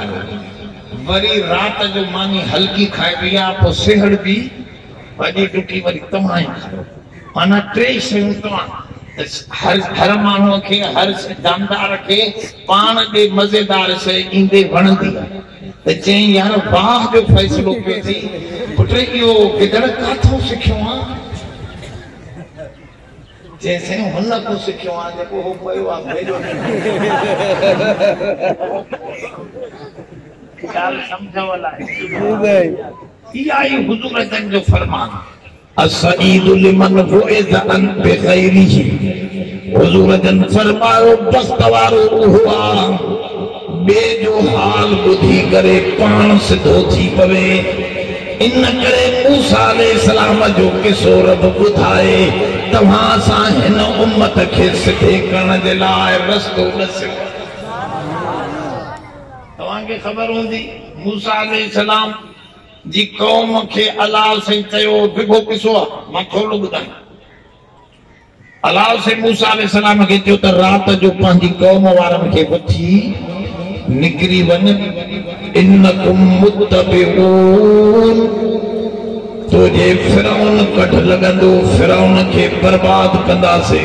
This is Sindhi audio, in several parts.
آيو وري رات جو ماني هلڪي کائي پئي آ پو سهڙ ٻي ڀڄي ڊڪي وري توهان ئي کائو معنيٰ ٽي شيون توهان هر هر ماڻهو کي هر جاندار کي پاڻ ڏي مزيدار شي ايندي وڻندي آ ته چئين يار واهه جو فيصلو پيو ٿي پٽ اهو گدڙ ڪاٿو سکيو آ چيائين سائين هن اڳو سکيو آهي جيڪو هو پيو آهي ڀيڏو ڏينهن ڳالهه سمجهه ولا آهي جي سائين اها ئي حضور جن جو فرمان السعيد لمن وعد عن بغيره حضور جن فرمايو بخت وارو اهو آهي ٻئي جو حال ٻڌي ڪري پاڻ سڌو ٿي پوي. ان ڪري موسيٰ عليه السلام جو قصو رب ٻڌائي توهان اسان هن امت کي سڌي ڪرڻ جي لاء رستو ڏسيو اٿس. توهان کي خبر هوندي موسيٰ عليه السلام جي قوم کي الله سائين چيو ڊگهو قصو آهي مان ٿورڙو ٻڌايان. الله سين موسيٰ عليه السلام کي چيو ته رات جو پنهنجي قوم وارن کي وٺي نڪري وڃ انڪم متبعون تو جي فرعون ڪڍ لڳندو فرعون کي برباد ڪنداسي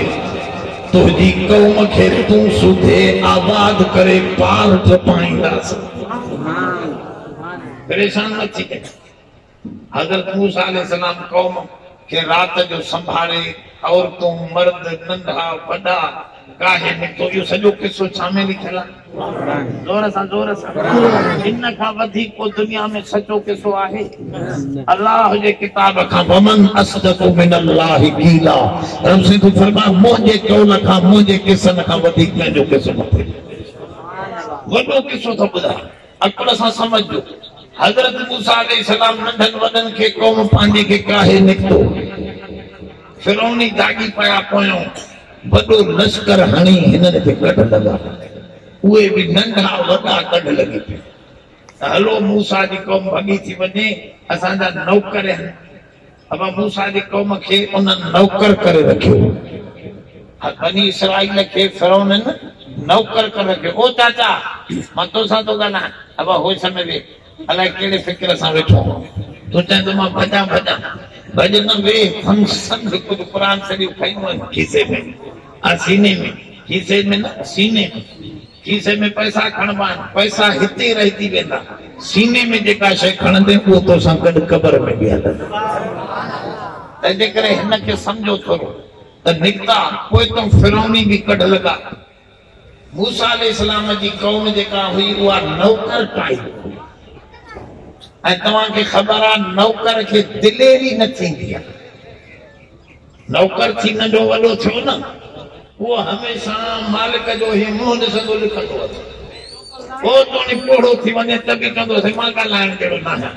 تنهنجي قوم کي تون سوڌي آباد ڪري پار ڊپائينداسي پريشان نه ٿي حضرت موسيٰ عليه السلام قوم کي رات جو سنڀالي، عورتون، مرد، ننڍا، وڏا، ڪاهي نڪتو اهو سڄو قصو ڇا ۾ لکيل آهي؟ زور سان زور سان ان کان وڌيڪ ڪو دنيا ۾ سچو قصو آهي؟ الله جي ڪتاب کان ومن اصدق من الله قيلا رب سائين تون فرما منهنجي قول کان منهنجي قصن کان وڌيڪ ڪنهن جو قصو نه ٿي لکي وڏو قصو ٿو ٻڌايان. عقل سان سمجهجو. حضرت موسيٰ عليه السلام ننڍن وڏن کي قوم پنهنجي کي ڪاهي نڪتو. فرعوني داڳي پيا پويون وڏو لشڪر هڻي هنن کي ڪڍ لڳا. اهي به ننڍا وڏا ڪڍ لڳي پيا ته هلو موسيٰ جي قوم ڀڳي ٿي وڃي اسان جا نوڪر هن. اوهان موسيٰ جي قوم کي انهن نوڪر ڪري رکيو ۽ بني اسرائيل کي فرعونن نوڪر ڪري رکيو. او چاچا! مان تو سان ٿو ڳالهايان. اوهان هوش ۾ ويهه. الائي ڪهڙي فڪر سان ويٺو آهيان. تون چاهين ته مان ڀڄان ڀڄان. ڀڄ نه ويهه. هن سنڌ ڪجهه قرآن شريف کنيو هئم کيسي ۾. آء سيني ۾. کيسي ۾ نه، سيني ۾. کيسي ۾ پئسا کڻبا آهن، پئسا هتي رهجي ويندا، سيني ۾ جيڪا شيء کڻندين اهو تو سان گڏ قبر ۾ به هلندي. تنهنجي ڪري هن کي سمجهو ٿورو ته نڪتا، پوء تون فرعوني به ڪڍ لڳا. موسيٰ عليه السلام جي قوم جيڪا هئي اها نوڪر ٽائيپ هئي ۽ توهان کي خبر آهي نوڪر کي دليري نه ٿيندي آهي. نوڪر ٿي ننڍو وڏو ٿيو نه، اهو هميشه مالڪ جو هي منهن ڏسندو لڪندو اٿئي. پوء توڻي پوڙهو ٿي وڃي ته به چوندو اٿئي مان ڳالهائڻ جهڙو ناهيان.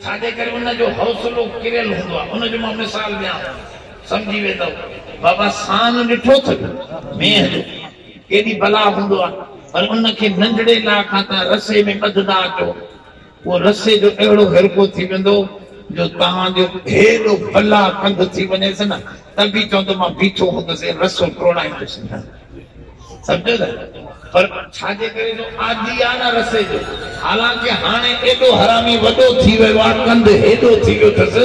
ڇاجي ڪري ان جو حوصلو ڪريل هوندو آهي. ان جو مان مثال ڏيان ٿو، سمجهي ويندؤ. بابا سان ڏٺو اٿئي مينهن جو ڪيڏي بلا هوندو آهي، پر ان کي ننڍڙي لاء کان تان رسي ۾ ٻڌندا اچو. اهو رسي جو اهڙو هرکو ٿي ويندو جو توهان جو هيڏو بلا ڪنڌ ٿي وڃيس نه ته به چوندو مان بيٺو هوندس ۽ رسو ٽوڙائيندس نه. سمجهيو نه؟ پر ڇا جي ڪري جو عادي آهي نه رسي جو. حالانڪه هاڻي ايڏو حرامي وڏو ٿي ويو آهي، ڪنڌ هيڏو ٿي ويو اٿس،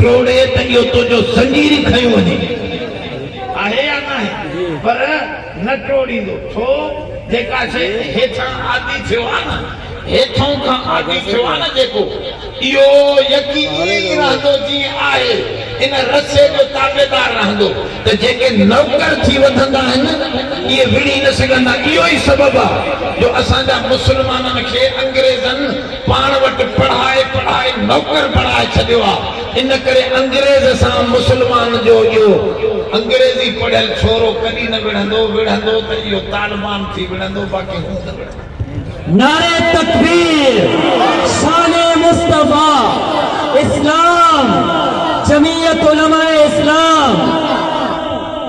ٽوڙي ته اهو تنهنجو زنجير ئي کنيو وڃي. آهي يا ناهي؟ پر. نه ٽوڙيندو ڇو جيڪا شيء هيٺان عادي ٿيو آ نه هيٺون کان عادي ٿيو آ نه جيڪو اهو يقيني ئي رهندو جيئي آهي ان رسي جو تابعدار رهندو ته جيڪي نوڪر ٿي وڌندا آهن اهي وڙهي نه سگهندا اهو ئي سبب آ جو اسان جا مسلمانن کي انگريزن پاڻ وٽ پڙهائي پڙهائي نوڪر بڻائي ڇڏيو آ ان ڪري انگريز سان مسلمان جو اهو انگريزي پڙهيل ڇورو ڪڏهن نه وڙهندو، وڙهندو ته اهو طالبان ٿي وڙهندو باقي هو نه وڙهندو. نعري تڪبير، شان مصطفيٰ، اسلام، جمعيت علماء اسلام.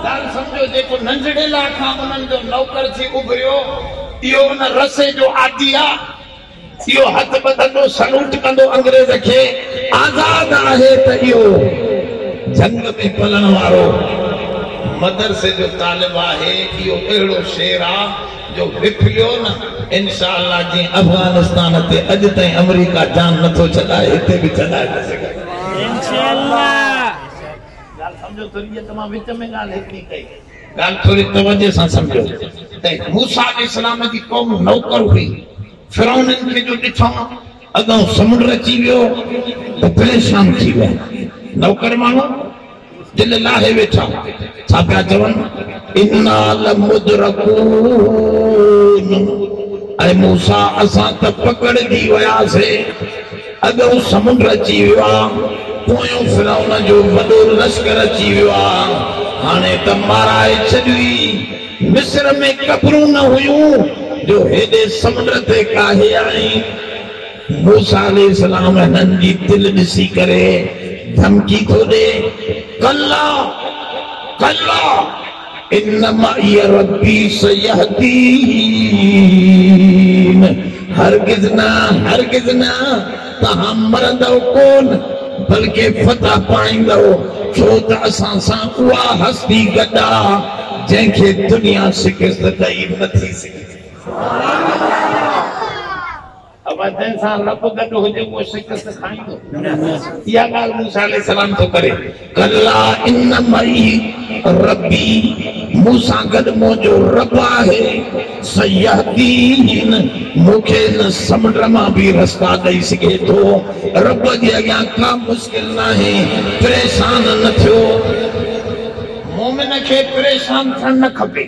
ڳالهه سمجهو جيڪو ننڍڙي لاء کان انهن جو نوڪر ٿي اڀريو اهو ان رسي جو عادي آ. اهو هٿ ٻڌندو سلوٽ ڪندو انگريز کي آزاد آهي ته اهو جهنگ ۾ پلڻ وارو مدرسي جو طالب آهي اهو اهڙو شير آ جو وڦليو نه انشاء الله جئين افغانستان تي اڄ تائين امريڪا جان نٿو ڇڏائي هتي به ڇڏائي نه سگهندو انشاء الله. ڳالھ سمجهو ٿوري جيڪا مان وچ ۾ ڳالھ هڪڙي ڪئي. ڳالهه ٿوري توجهه سان سمجهو ته موسيٰ عليه السلام جي قوم نوڪر هئي، فرعونن کي جو ڏٺائون اڳئون سمنڊ اچي ويو ته پريشان ٿي ويا، نوڪر ماڻهو دل لاهي ويٺا، ڇا پيا چون، انا لمدرڪون، اي موسيٰ اسان ته پڪڙجي وياسين. اڳئون سمنڊ اچي ويو آ، پويون فرعون جو وڏو لشڪر اچي ويو آ، هاڻي ته مارائي ڇڏيوئي. مصر ۾ قبرون نه هيون جو هيڏي سمنڊ تي ڪاهي آڻين. موسيٰ عليه السلام هنن جي دل ڏسي ڪري ڌمڪي ٿو ڏي، ڪلا ڪلا! ان معي ربي سيهدين هرگز نه هرگز نه توهان مرندؤ ڪون بلڪه فتح پائيندؤ ڇو ته اسان سان اها هستي گڏ آ جنهن کي دنيا شڪست ڏئي نٿي سگهندي. ابا جنهن سان رب گڏ هجي اهو شڪست کائيندو اها ڳالهه موسيٰ عليه السلام ٿو ڪري ڪلا ان معي ربي مون سان گڏ منهنجو رب آهي سيهدين مون کي ان سمنڊ مان به رستا ڏئي سگهي ٿو رب جي اڳيان ڪا مشڪل ناهي پريشان نه ٿيو مؤمن کي پريشان ٿيڻ نه کپي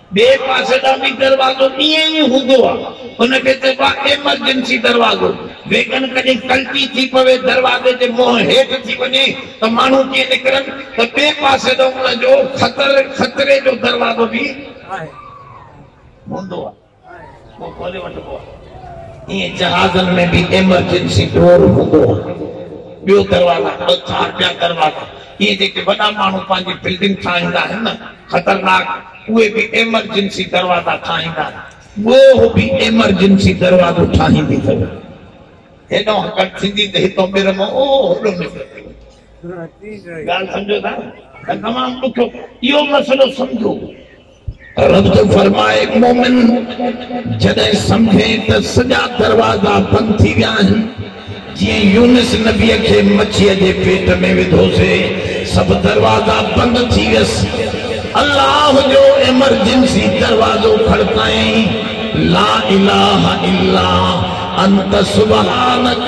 ٻئي پاسي ڏانهن به دروازو ائين ئي هوندو آ. ان کي چئبو آ ايمرجنسي دروازو. ويڳن ڪڏهن ڪلٽي ٿي پوي، دروازي جي منهن هيٺ ٿي وڃي ته ماڻهو ڪيئن نڪرن ته ٻئي پاسي ڏانهن ان جو خطري جو دروازو به هوندو آ. ڪو کولي وٺبو آهي ائين جهازن ۾ به ايمرجنسي ڊور هوندو آهي ٻيو دروازا ٻه چار ٻيا دروازا ائين جيڪي وڏا ماڻهو پنهنجي بلڊنگ ٺاهيندا آهن نه خطرناڪ اهي به ايمرجنسي دروازا ٺاهيندا آهن ڳوهه به ايمرجنسي دروازو ٺاهيندي اٿو هيڏانهن هڪڙ ٿيندي ته هتان ٻير مان اوهو هوڏو نڪري پئي ڳالهه سمجهو ٿا نه تمام ڏکيو اهو مسئلو سمجهو رب جو فرمان آهي، مؤمن جڏهن سمجهي ته سڄا دروازا بند ٿي ويا آهن، جيئن يونس نبيء کي مڇيء جي پيٽ ۾ وڌوسي، سڀ دروازا بند ٿي ويس، الله جو ايمرجنسي دروازو کڙڪايائين، لا اله الا انت سبحانک.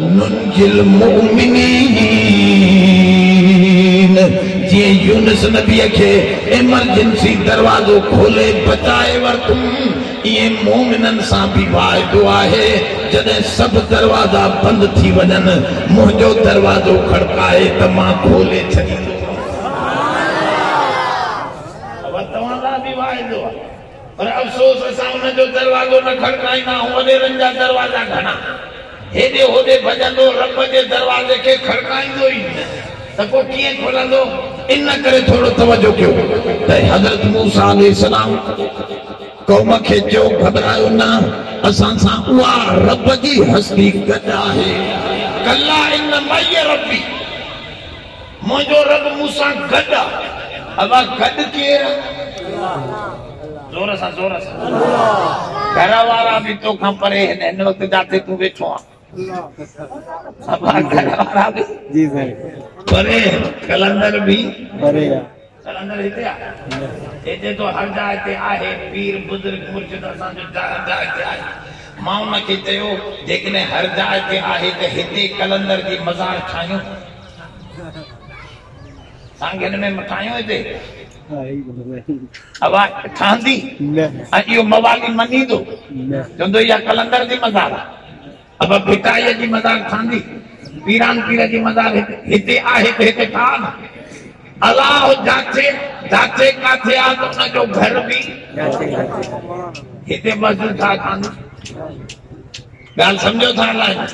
ننجي المؤمنين جيئن يونس نبيء کي ايمرجنسي دروازو کولي بچائي ورتم ايئن مؤمنن سان به واعدو آهي جڏهن سڀ دروازا بند ٿي وڃن منهنجو دروازو کڙڪائي ته مان کولي ڇڏيندوسانس. پر افسوس اسان ان جو دروازو نه کڙڪائيندا آهون وڏيرن جا دروازا گهڻا هيڏي هوڏي ڀڄندو رب جي دروازي کي کڙڪائيندو ئي نه ته پوء ڪيئن کلندو ان ڪري ٿورو توجه ڪيو ته حضرت موسيٰ عليه السلام قوم کي چيو گهٻرايو نه اسان سان اها رب جي هستي گڏ آهي ڪلا ان معي ربي. منهنجو رب مون سان گڏ آ. ابا گڏ ڪير آ؟ زور سان زور سان. گهر وارا به تو کان پري هن هن وقت جاٿي تون ويٺو آ. ابا گهر وارا به جي سائين پري قلندر به پري آ. قلندر هتي آ اي چئي ٿو هر جاء تي آهي پير بزرگ مرشد اسان جو هر جاء تي آهي مان ان کي چيو جيڪڏهن هر جاء تي آهي ته هتي قلندر جي مزار ٺاهيون سانگين ۾ مٺايون هتي اوا ٺهندي ۽ اهو موالي مڃيندو چوندو اها قلندر جي مزار آ ابا ڀٽائيء جي مزار ساندي، پيران پير جي مزار هتي آهي ته هتي ڪا نه. الاهو جاچي جاچي ڪاٿي آ ته ان جو گهر به جاچي جاچي هتي مسجد ڇا ساندي. ڳالهه سمجهو ٿا الائي نه.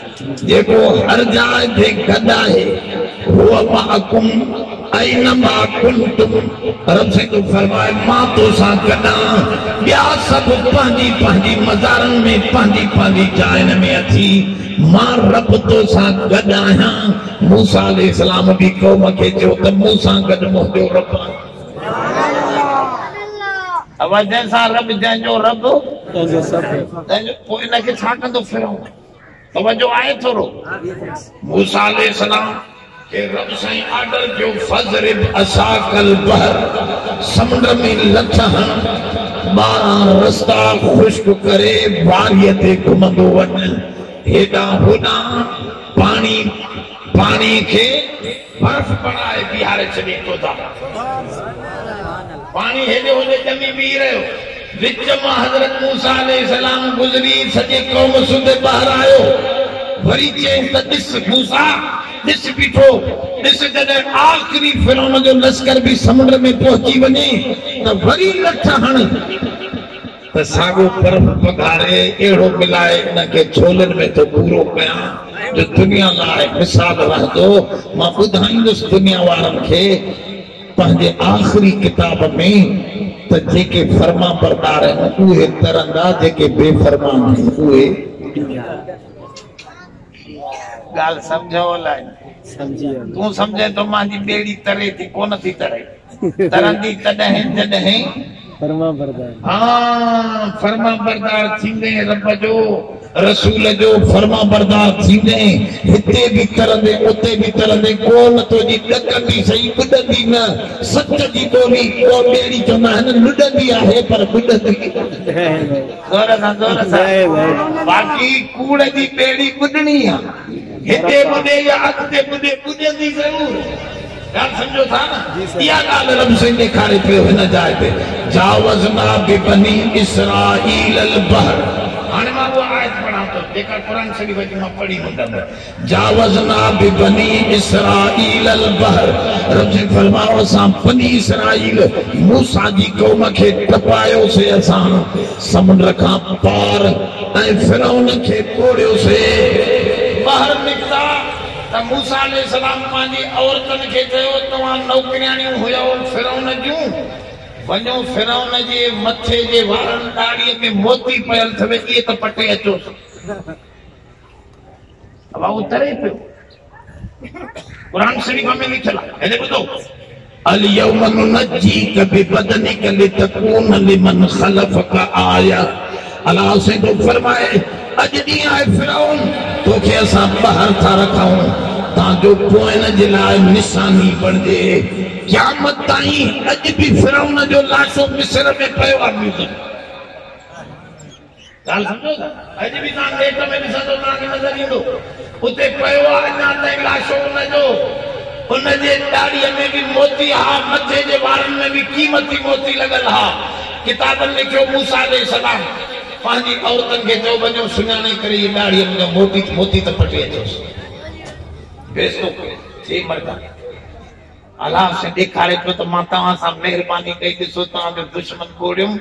جيڪو هر جاء جي گڏ آهي. هو معکم اينما ڪنتم رسيت فرمائي مان تو سان گڏان ٻيا سڀ پنهنجي پنهنجي مزارن ۾ پنهنجي پنهنجي جاين ۾ اٿي مان رب تو سان گڏ آهيان موسيٰ عليه السلام به قوم کي چيو ته مون سان گڏ منهنجو رب آهي. اوهان جنهن سان رب جنهن جو رب تنهن جو سڀ تنهن جو پوء ان کي ڇا ڪندو فرعون. توجه آهي ٿورو موسيٰ عليه السلام کي رب سائين آرڊر ڪيو فضرب عصاک البحر سمنڊ ۾ لٿ هڻ ٻارهن رستا خشڪ ڪري واري تي گهمندو وڃ هيڏانهن هوڏانهن پاڻي پاڻي کي برف بڻائي بيهاري ڇڏين تودا پاڻي هيڏي هوڏي ڄمي بيهي رهيو وچ مان حضرت موسيٰ عليه السلام گذري سڄي قوم سوڌي ٻاهر آيو وري چيس ته ڏس موسيٰ ڏس بيٺو ڏس جڏهن آخري فرعون جو لشڪر به سمنڊ ۾ پهچي وڃي ته وري لٺ هڻ ته ساڳو پرب پگهاري اهڙو ملائي انهن کي جهولين ۾ ٿو پورو ڪيان جو دنيا لاء مثال رهندو. مان ٻڌائيندس دنيا وارن کي پنهنجي آخري ڪتاب ۾ ته جيڪي فرمانبردار آهن اهي ترندا جيڪي بي فرمان آهن اهي ڏيندا. ڳالهه سمجهه اولائي تون سمجهين ته مانجي ٻيڙي تري ٿي ڪونه ٿي تري. ترندي تڏهن جڏهن فرمانبردار ٿيندين رب جو رسول جو فرمانبردار ٿيندين هتي به ترندين اتي به ترندين قوم تنهنجي ڏڪندي سهي ٻڏندي نه سچ جي ٻولي قوم ٻيڙي چوندا آهن لڏندي آهي پر ٻڏندي زور سان زور سان باقي ڪوڙ جي ٻيڙي ٻڏڻي آهي هتي ٻڏي يا اڳتي ٻڏي ٻڏندي ضرور ڳالهه سمجهو ٿا نه؟ اها ڳالهه رب سائين ڏيکاري پيو هن جاء تي جاوزنا ببني اسرائيل البحر هاڻي مان اها آيت پڙهان ٿو جيڪا قرآن شريف جي مان پڙهي هوندم جاوزنا ببني اسرائيل البحر رب سائين فرمايو اسان بني اسرائيل موسيٰ جي قوم کي ٽپايوسي اسان سمنڊ کان پار ۽ فرعون کي ٻوڙيوسي ٻاهر نڪتا ته موسيٰ عليه السلام پنهنجي عورتن کي چيو، توهان نوڪرياڻيون هيؤ فرعون جون، وڃو فرعون جي مٿي جي وارن، ڏاڙهيء، ۾ موتي پيل ٿئي اهي ته پٽي اچوس. اهو تري پيو. قرآن شريف ۾ لکيل آهي. هيڏي ٻڌو. اليوم ننجيک ببدنک لتڪون لمن خلفک آية الله سائين ٿو فرمائي اڄ ڏينهن آء فرعون توکي اسان ٻاهر ٿا رکون تان جو پوئين جي لاء نشاني بڻجي قيامت تائين اڄ به فرعون جو لاشو مصر ۾ پيو آهي ميوزم ڳالهه سمجهو ٿا؟ اڄ به توهان نيٽ ۾ ڏسندو توهان کي نظر ايندو اتي پيو آهي اڃا تائين لاشو ان جو ان جي ڏاڙهي ۾ به موتي ها مٿي جي وارن ۾ به قيمتي موتي لڳل ها ڪتابن لکيو موسيٰ عليه السلام پنهنجي عورتن کي چيو وڃو سڃاڻي ڪري اهي ڏاڙهي منهنجو موٽي موتي ته پٽي اچوس بيستو ڪري چي مردا الله سين ڏيکاري پيو ته مان توهان سان مهرباني ڪئي ڏسو توهان جو دشمن ٻوڙيم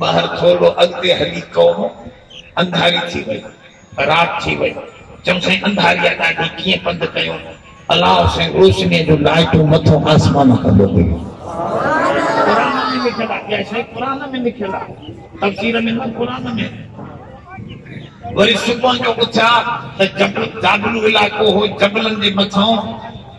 ٻاهر ٿورڙو اڳتي هلي قوم انڌاري ٿي وئي رات ٿي وئي چيم سائين انڌاري آ ڏاڍي ڪيئن پنڌ ڪيون الله حسين روشني جون لائٽون مٿون آسمان ڪندو ويو. قرآن ۾ لکيل آ اها شئي قرآن ۾ لکيل آ تفسير ۾ نه قرآن ۾ وري صبح جو اٿيا ته جبل جابلو علائقو هو جبلن جي مٿان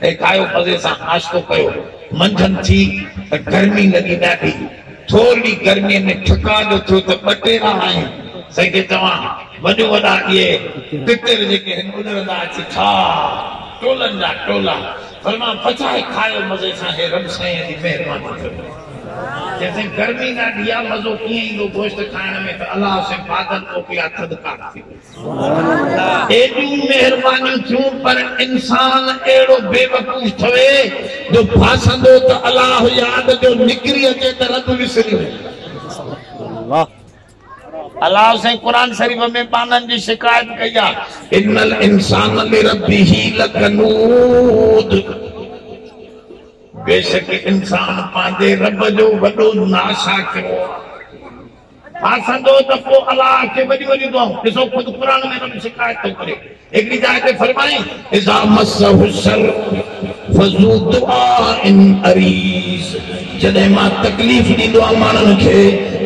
ٿي کايو مزي سان ناشتو ڪيو منجهند ٿي ته گرمي لڳي ڏاڍي ٿورڙي گرمي ۾ ٺڪاء جو ٿيو ته ٻه ٽي راهه آهن سائين کي چوان وڏو وڏا اهي پتر جيڪي هن اڏرندا اچي کاء ٽولن جا ٽولا فرمان پچائي کايو مزي سان هي رب سائين جي مهرباني ٿيو چيس سائين گرمي ڏاڍي آ مزو ڪيئن ايندو گوشت کائڻ ۾ ته الله حسين بادل موڪليا ٿڌڪار ٿي وئي. ايڏيون مهربانيون ٿيون پر انسان اهڙو بي وقوف ٿوي جو ڦاسندو ته الله ياد جو نڪري اچي ته رب وسري وڃي. الله سائين قرآن شريف ۾ ٻانهن جي شڪايت ڪئي آ. ان الانسان لربه لڪنود بيشڪ انسان پنهنجي رب جو وڏو ناشاڪرو آ. آسندو ته پوء الله کي وڏيون وڏيون دعائون ڏسو خود قرآن ۾ رب شڪايت ٿو ڪري هڪڙي جاء تي فرمائين اذا مسه الشر فذو دعاء عريض جڏهن مان تڪليف ڏيندو آهيان ماڻهن کي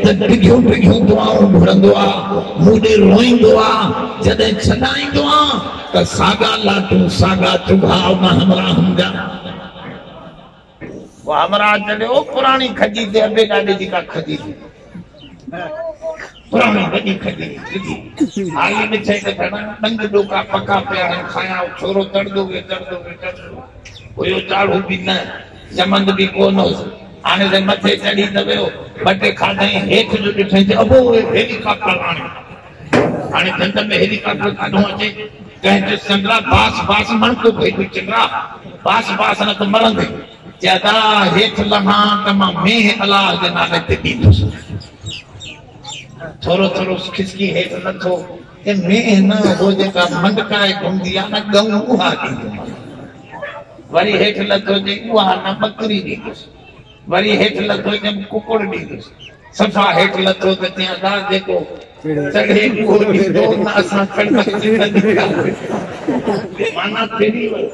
ته ڊگهيون ڊگهيون دعائون گهرندو آهي مون ڏي روئيندو آهي جڏهن ڇڏائيندو آهيان ته ساڳا لاٽون ساڳا چگهاء نه همراهن جا پوء همراهه چيو، او پراڻي کجي تي ابي ڏاڏي جي ڪا کجي ٿي پراڻي وڏي کجي ٿي سڌي هائي ڏٺي ته گهڻا ڏنگ ڏوڪا پڪا پيا آهن کايان او ڇورو تڙندو ويو تڙندو ويو تڙندو ويو چاڙهو به نه چمند به ڪو نه هوس هاڻي ته مٿي چڙهي ته ويو ٻه ٽي کاڌائين هيٺ جو ڏٺائين ته ابو اهي هيلي ڪاپٽر آڻي هاڻي ڍنڍ ۾ هيلي ڪاپٽر ڪاڍون اچي ڪنهن چيو چنڊرا باس باس مڻڪو ڀيٽو چنڊرا باس باس نه ته مرندين چي ادا هيٺ لهان ته مان مينهن الله جي نالي تي ڏيندس ٿورو ٿورو کسڪي هيٺ لٿو ته مينهن نه هو جيڪا منڊڪائي گهمندي آ نه ڳئون اها ڏيندومانس وري هيٺ لٿو چي اها نه ٻڪري ڏيندس وري هيٺ لٿو ڄم ڪڪڙ ڏيندس. صفا هيٺ لٿو ته چيائين ادا جيڪو چڙهي اهو ڏيندو ته اسان چڙهنداسين نه ڏينداسين. معنيٰ ڦري ويو.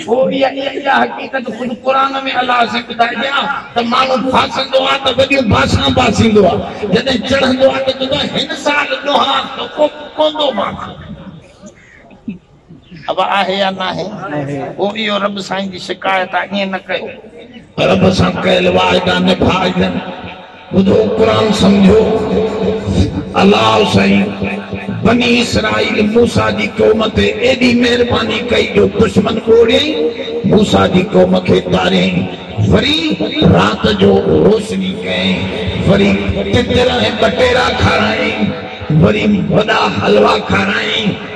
ٿوري اڄ اها حقيقت خود قرآن ۾ الله سين ٻڌائي ڏيان ته ماڻهو ڦاسندو آهي ته وڏيون باسان باسيندو آهي جڏهن چڙهندو آهي ته چوندو آهي هن سال ڏوهارسو ڪو پوندو مانسي. اب آهي يا ناهي پوء اهو رب سائين جي شڪايت آ ائين نه ڪيو رب سان ڪيل واعدا نڀائجن ٻڌو قرآن سمجهو الله سائين بني اسرائيل موسيٰ جي قوم تي ايڏي مهرباني ڪئي جو دشمن ٻوڙيائين موسيٰ جي قوم کي تاريائين وري رات جو روشني ڪيائين وري تتر ۽ ٻٽيرا کارايائين وري وڏا حلوا کارايائين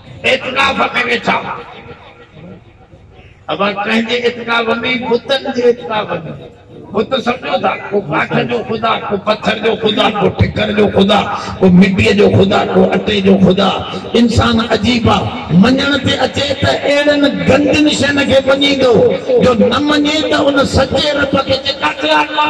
اعتڪاف ۾ ويٺا هئا اوهان ڪنهن جي اعتڪاف ۾ بتن جي اعتڪاف ۾ بت سمجھو ٿا ڪو ڪاٺ جو خدا ڪو پٿر جو خدا ڪو ٺڪر جو خدا ڪو مٽي جو خدا ڪو اٽي جو خدا انسان عجيب آ مڃڻ تي اچي ته اهڙن گندين شين کي مڃيندو جو نه مڃي ته ان سچي رب کي چيڪاٽي آندو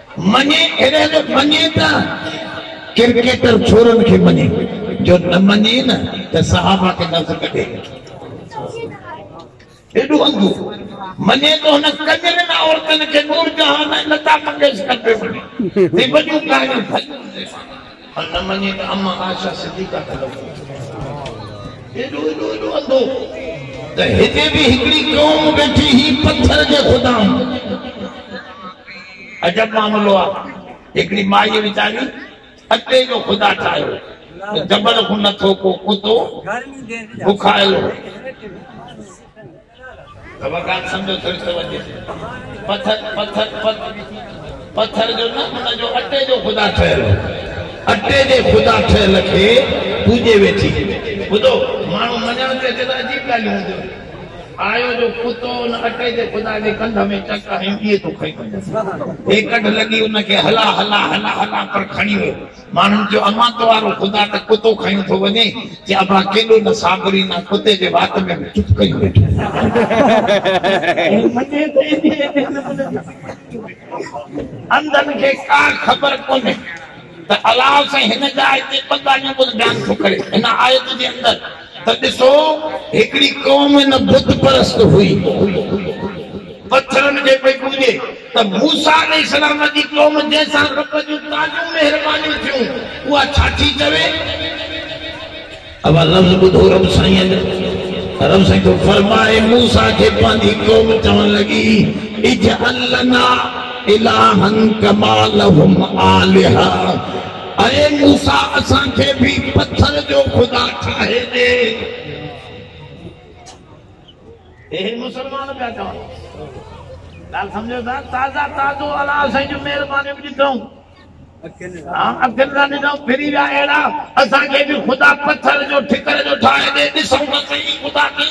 مڃي اهڙي جو مڃي ته ڪرڪيٽر ڇورن کي مڃي جو نه مڃي نه ته صحابه کي لفظ ڪڍي ايڏو انڌو مڃي ته هن ڪنجرين عورتن کي نور جهان ۽ لتا منگيشڪر پيو مڃي ۽ وڏيون ڪاهيون ڀڄيون پر نه مڃي ته اما عائشه صديقه ته لڳو ايڏو ايڏو ايڏو انڌو ته هتي به هڪڙي قوم ويٺي هئي پٿر جي خدائن عجب معاملو آ هڪڙي مائي ويچاري اٽي جو خدا ٺاهيو ته جبل کون نه ٿو ڪو ڪتو بکايل هو وقات سمجهو ٿوري توجه پٿر پٿر پٿر جو نه ان جو اٽي جو خدا ٺهيل هو اٽي جي خدا ٺهيل کي پوڄي ويٺي ٻڌو ماڻهو مڃڻ تي اچي ته عجيب ڳالهيون هونديون آيو جو ڪتو ان اٽي جي خدا جي ڪنڌ ۾ چڪ هنيو ٻيئي تو کڻي وڃس هي ڪڍ لڳي ان کي هلا هلا هلا هلا پر کڻي ويو ماڻهن چيو، امان تو وارو خدا ته ڪتو کنيو ٿو وڃي. چي ابا ڪيڏو نه صابري نه ڪتي جي وات ۾ به چپ ڪيو ويٺو. انڌن کي ڪا خبر ڪونهي ته الله سائين هن جاء تي ٻه ڳالهيون ٻڌ بيان ٿو ڪري هن آيت جي اندر. ته ڏسو هڪڙي قوم نه بت پرست هئي پٿرن کي پئي پوڄي ته موسيٰ عليه السلام جي قوم جنهن سان رب جون تازيون مهربانيون ٿيون اها ڇا ٿي چوي اها لفظ ٻڌو رب سائين جا رب سائين ٿو فرمائي موسيٰ کي پنهنجي قوم چوڻ لڳي اجعل لنا الها ڪما لهم آلهه اي موسيٰ اسان کي به پٿر جو خدا ٺاهي ڏي. هي هي مسلمان پيا چون ڳالهه سمجهو ٿا تازا تازو الله سائين جون مهربانيون ڏٺائون اکين سان ڏٺائون ڦري ويا اهڙا اسان کي به خدا پٿر جو ٺڪر جو ٺاهي ڏي ڏسون ته سهي خدا کي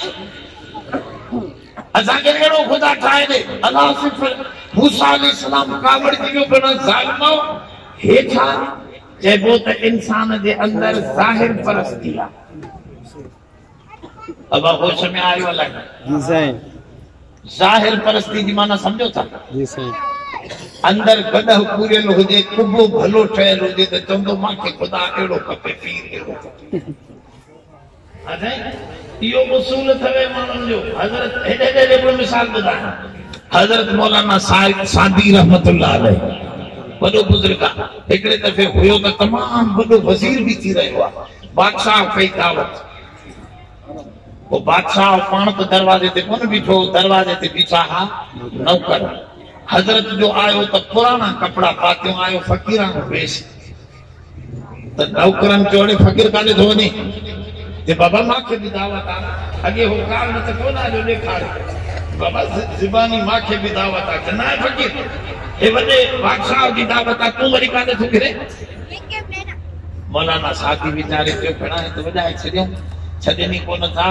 اسان کي اهڙو خدا ٺاهي ڏي. الله صرف موسيٰ عليه السلام ڪاوڙجي ويو پيو نه ظالمؤ هيٺان چئبو ته انسان جي اندر ظاهر پرستي آ. ابا هوش ۾ آيو الائي نه. جي سائين. ظاهر پرستي جي معنيٰ سمجهو ٿا. جي سائين. اندر گڏهه پوريل هجي ڪٻو ڀلو ٺهيل هجي ته چوندو مان کي خدا اهڙو کپي پير اهڙو کپي. اٿئي اهو اصول اٿوي ماڻهن جو حضرت هيڏي هيڏي جو هڪڙو مثال ٻڌايان حضرت مولانا سائد سعدي رحمة الله عليه وڏو بزرگ آ هڪڙي دفعي هيو ته تمام وڏو وزير به ٿي رهيو آ بادشاهه ڪئي دعوت پوء بادشاهه پاڻ ته دروازي تي ڪونه بيٺو دروازي تي بيٺا ها نوڪر حضرت جو آيو ته پراڻا ڪپڙا پاتيون آيو فقيراڻو ويس ته نوڪرن کي اڙي فقير ڪاڏي ٿو وڃي جي بابا مان کي به دعوت آ اڳي هو ڪار نه ته ڪو نه آجو ڏيکاري بابا زباني مان کي به دعوت آ جناء فقير هي وڏي بادشاهه جي دعوت آ تون وري ڪاڏي ٿو ڦرين مولانا ساڌي ويچاري چيو ڀيڻا هي ته وڄائي ڇڏيون ڇڏين ئي ڪونه ٿا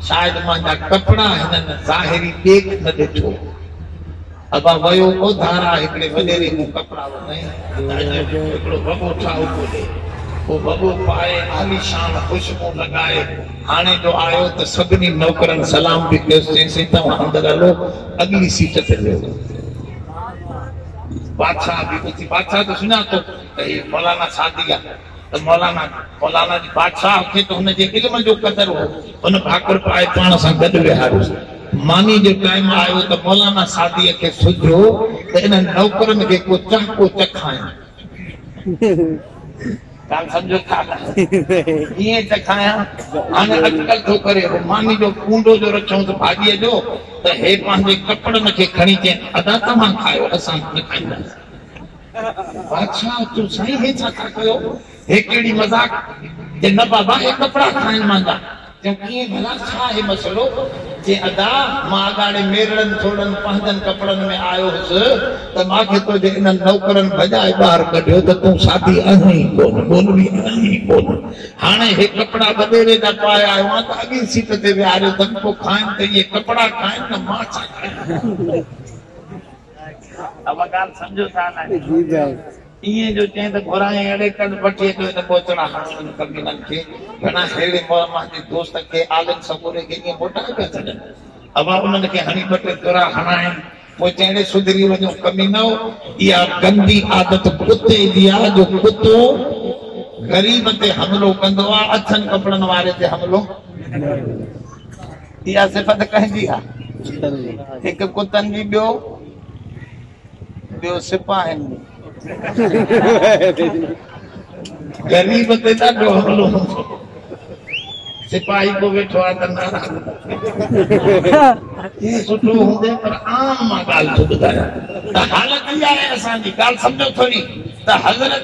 شايد مانجا ڪپڙا هنن ظاهري ڏيک نه ڏٺو ابا ويو او ڌارا هڪڙي وڏيري مون ڪپڙا ورتائين ته اڄ هڪڙو وڳو ٺاهو پيو ڏي. اهو وڳو پائي عاليشان خوشبو لڳائي هاڻي جو آيو ته سڀني نوڪرن سلام به ڪيس چيسين توهان اندر هلو اڳلي سيٽ تي ويهو. بادشاهه به اٿي بادشاهه جو سڃاتو ته هي مولانا سعدي آ. ته مولانا جو مولانا جي بادشاهه کي ته هن جي علم جو قدر هو، هن ڀاڪر پائي پاڻ سان گڏ ويهاريس. ماني جو ٽائيم آيو ته مولانا سعديء کي سجهيو ته انهن نوڪرن کي ڪو چهڪو چکايان. ڳالهه سمجهو ٿا نه؟ ڪيئن چکايان؟ هاڻي اٽڪل ٿو ڪري. هو ماني جو ڪونڊو جو رکيائونس ڀاڄيء جو ته هي پنهنجي ڪپڙن کي کڻي چين، ادا توهان کائو، اسان نه کائينداسين. بادشاهه، چيو، سائين هي ڇا ٿا ڪيو؟ هي ڪهڙي مذاق؟ چي، نه بابا، هي ڪپڙا کائن مانجا. چيو، ڪيئن ڀلا؟ ڇا آهي مسئلو؟ چي، ادا، مان اڳاڙي ميرڙن ٿورڙن پنهنجن ڪپڙن ۾ آيو هوس ته مان کي تنهنجي انهن نوڪرن ڀڄائي ٻاهر ڪڍيو ته تون ساڌي آهين ئي ڪونه، ٻولوي آهين ئي ڪونه. هاڻي هي ڪپڙا وڏيري جا پائي آيو آهيان ته اڳين سيٽ تي ويهاريو اٿم، پوء کائن ته اهي ڪپڙا کائن نه مان ڇا کايان. اها ڳالهه سمجهو ڇا لاء؟ ائين جو چئين ته گهرائين اهڙي ڪنڊ پٺيء جو هن ٻوچڙا ماڻهن ۽ ڪمينن کي هڻان ههڙي مور مهندي دوست کي عالم سڳوري کي ائين موٽائي پيا ڇڏن. اها انهن کي هڻي ٻه ٽي ٿرا هڻائين پوء چئين سڌري وڃو ڪمينؤ اها گندي عادت ڪتي جي آهي جو ڪتو غريب تي حملو ڪندو آهي اڇن ڪپڙن واري تي حملو نه ڪندو آهي. اها صفت ڪنهن جي آ؟ هڪ ڪتن جي ٻيو ٻيو سپاهين جي غريب تي ڏاڍو حملو سپاهي پو ويٺو آ ته ناراض هي سٺو هوندي پر عام مان ڳالهه ٿو ٻڌايان ته حالت اها آهي اسان جي ڳالهه سمجهو ٿوري ته حضرت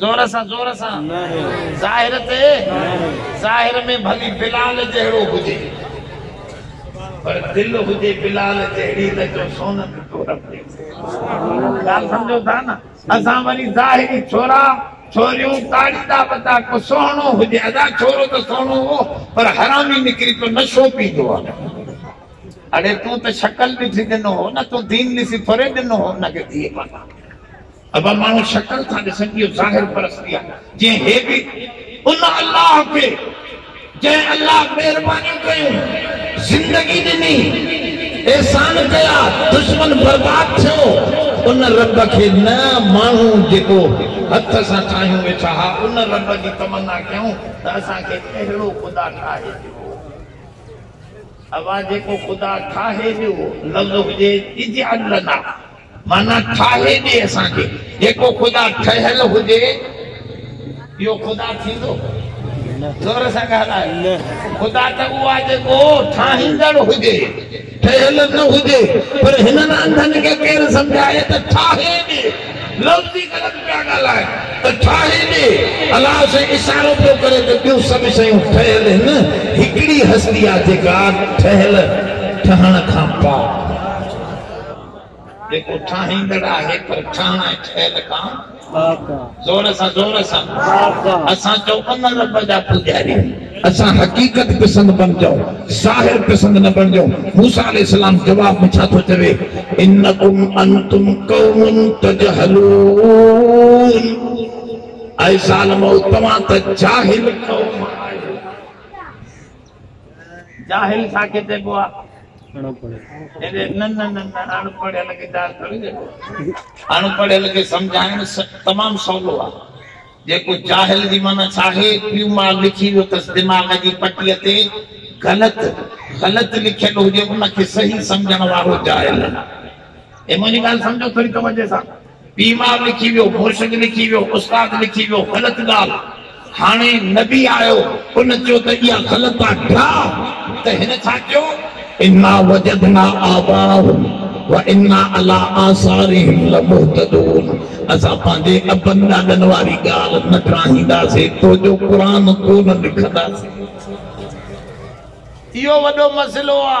زور سان زور سان ظاهر تي ظاهر ۾ ڀلي بلال جهڙو هجي پر دل هجي بلال جهڙي نه جو سونت تورپ تي ڳالهه سمجهو ٿا نه اسان وري ظاهري ڇورا ڇوريون تاڙي ٿا بتا ڪو سهڻو هجي ادا ڇورو ته سهڻو هو پر حرامي نڪري پيو نشو پيندو آهي اڙي تون ته شڪل ڏٺي ڏنو هو نه تون دين ڏسي ٿوري ڏنو هو ان کي ٿي پتا اهو ماڻهو شڪل ٿا ڏسن، اهو ظاهر پرستي آهي، جنهن هي به ان الله کي جنهن الله مهربانيون ڪيون، زندگي ڏني، احسان ڪيا، دشمن برباد ٿيو، ان رب کي نه ماڻهو جيڪو هٿ سان ٺاهيون ويٺا ها، ان رب جي تمنا ڪيائون ته اسان کي اهڙو خدا ٺاهي ڏيو. اها جيڪو خدا ٺاهي ڏيو لفظ هجي اجعل لنا معنيٰ ٺاهي ڏي اسان کي. جيڪو خدا ٺهيل هجي اهو خدا ٿيندو؟ زور سان ڳالهاء. خدا ته اهو آهي جيڪو ٺاهيندڙ هجي، ٺهيل نه هجي. پر هنن انڌن کي ڪير سمجهائي ته ٺاهي ڏي. لفظ ئي غلط پيا ڳالهائين ته ٺاهي ڏي. الله سائين اشارو پيو ڪري ته ٻيون سڀ شيون ٺهيل هن هڪڙي هستي آهي جيڪا ٺهيل، ٺهڻ کان پاڪ آهي. جيڪو ٺاهيندڙ آهي پر ٺهڻ ۽ ٺهيل کان زور سان زور سان اسان چئو ان رب جا پوڄاري. اسان حقيقت پسند بڻجو ظاهر پسند نه بڻجو موسيٰ عليه السلام جواب ۾ ڇا ٿو چوي انڪم انتم قوم تجهلون اي ظالمؤ توهان ته جاهل قوم آهيو. جاهل ڇا کي چئبو آ؟ اهڙي ننڍ ننڍ اڻ پڙهيل کي جاهل ٿوري چئبو آ. اڻ پڙهيل کي سمجهائڻ تمام سولو آ. جيڪو جاهل جي معنيٰ ڇا آهي؟ پيو ماء لکي ويو تس دماغ جي پٽيء تي غلط غلط لکيل هجي ان کي صحيح سمجهڻ وارو جاهل. هي منهنجي ڳالهه سمجهو ٿوري توجهه سان. بيمار لکي ويو، مرشد لکي ويو، استاد لکي ويو، غلط ڳالهه. هاڻي نبي آيو، ان چيو ته اها غلط آ، ڊاء، ته هن ڇا چيو، انا وجدنا آباءهم وانا علي آثارهم لمهتدون، اسان پنهنجي ابن ڏاڏن واري ڳالهه نه ٽراهينداسي، تو جو قرآن ڪو نه لکنداسي. اهو وڏو مسئلو آ.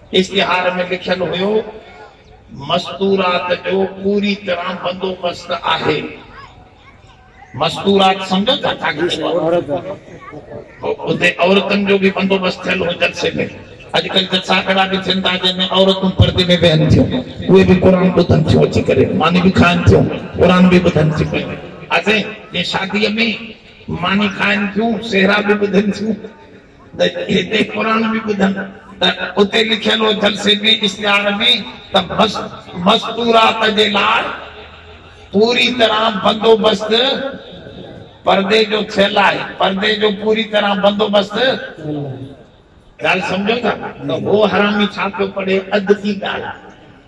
اشتهار ۾ لکيل هيو، مستورات جو پوري طرح بندوبست آهي. مستورات سمجهو ٿا ڇا ٿيندو آهي؟ اتي عورتن جو به بندوبست ٿيل هو جلسي ۾. اڄڪلهه جلسا ڪهڙا به ٿين ٿا جنهن ۾ عورتون پردي ۾ ويهن ٿيون. اهي به قرآن ٻڌن ٿيون اچي ڪري. ماني به کائن ٿيون، قرآن به ٻڌن ٿيون پيون. ها سائين جيئن شاديء ۾ ماني کائن ٿيون، سهرا به ٻڌن ٿيون. ته هتي قرآن به ٻڌن ته اتي لکيل هو جلسي ۾ اشتهار ۾ ته مستورات جي لاء پوري طرح بندوبست پردي جو ٿيل آهي پردي جو پوري طرح بندوبست ڳالهه سمجهو ٿا ته هو حرامي ڇا پيو پڙهي اڌ ٿي ڳالهه